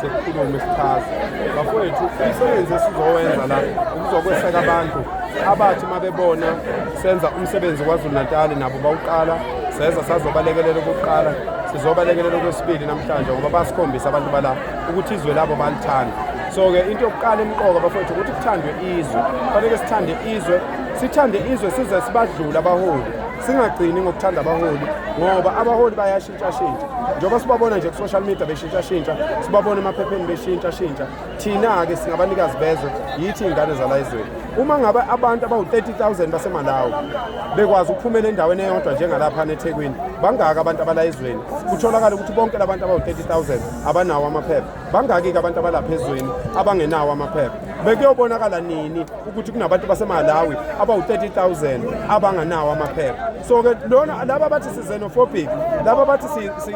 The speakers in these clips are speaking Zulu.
sekukhulume sichaze bafowethu umsebenzi esizowenza la ukuzokweseka abantu abathi uma bebona senza umsebenzi kwazulu-natali nabo bawuqala seza sazobalekelela ukuqala sizobalekelela okwesibili namhlanje ngoba basikhombisa abantu bala ukuthi izwe labo balithanda so-ke into yokuqala emqoka bafowethu ukuthi kuthandwe izwe kufanele sithande izwe sithande izwe size sibadlule abaholi singagcini ngokuthanda abaholi ngoba abaholi bayasho shintshashintsha njengoba sibabona nje ku-social media beshintshashintsha sibabona emaphepheni beshintshashintsha thina-ke singabanikazi bezwe yithi iy'ngane zala ezweni uma ngabe abantu abawu-30 000 basemalawi bekwazi ukuphumela endaweni eyodwa njengalapha nethekwini bangaka abantu abala ezweni kutholakala ukuthi bonke labantu abawu-30 000 abanawo amaphepha bangaki-ke abantu abalapha ezweni abangenawo amaphepha bekuyobonakala nini ukuthi kunabantu basemalawi abawu-30,000 abanganawo amaphepha so-ke lona laba bathi si-xenophobic laba bathi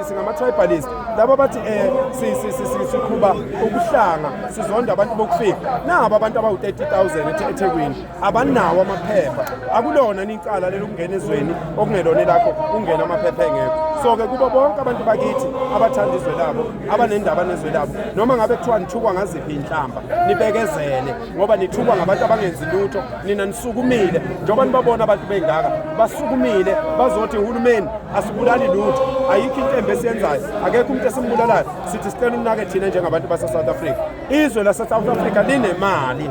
singama-tribalist laba bathi um siqhuba ubuhlanga sizonda abantu bokufika nabo abantu abawu-30,000 ethekwini abanawo amaphepha akulona nicala lelokungena ezweni okungelona elakho kungena amaphepha engekho so-ke kubo bonke abantu bakithi abathanda izwe labo abanendaba nezwe labo noma ngabe kuthiwa nithukwa ngaziphi inhlamba nibekezele ngoba nithukwa ngabantu abangenzi lutho nina nisukumile njengoba nibabona abantu bengaka basukumile bazothi uhulumeni asibulali lutho ayikho into embi esiyenzayo akekho umuntu esimbulalayo sithi sicela unake thina njengabantu base-south africa izwe lase-south africa linemali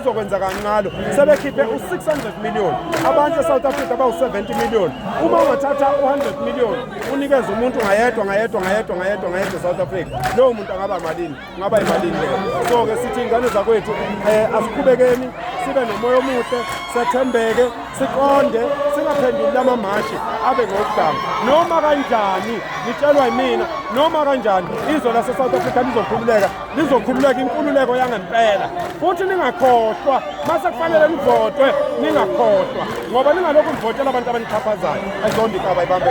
uzokwenza kancalo sebekhiphe u-600 million abantu e-south africa bawu-70 million uma ungathatha u-100 million unikeze umuntu ngayedwa ngayedwa ngayedwa ngayedwa ngayedwa e-south africa lowo muntu angaba malini ungaba yimalini leyo so-ke sithi iy'ngane zakwethu um asiqhubekeni sibe nomoya omuhle sethembeke siqonde singaphenduli amamashi abe ngokudanga noma kanjani ngitshelwa yimina noma kanjani izwe lase-south africa lizokhululeka lizokhululeka inkululeko yangempela futhi ningakhohlwa mase kufanele nivotwe ningakhohlwa ngoba ningalokhu nivotela abantu abanixhaphazayo ayizondikaba ibambe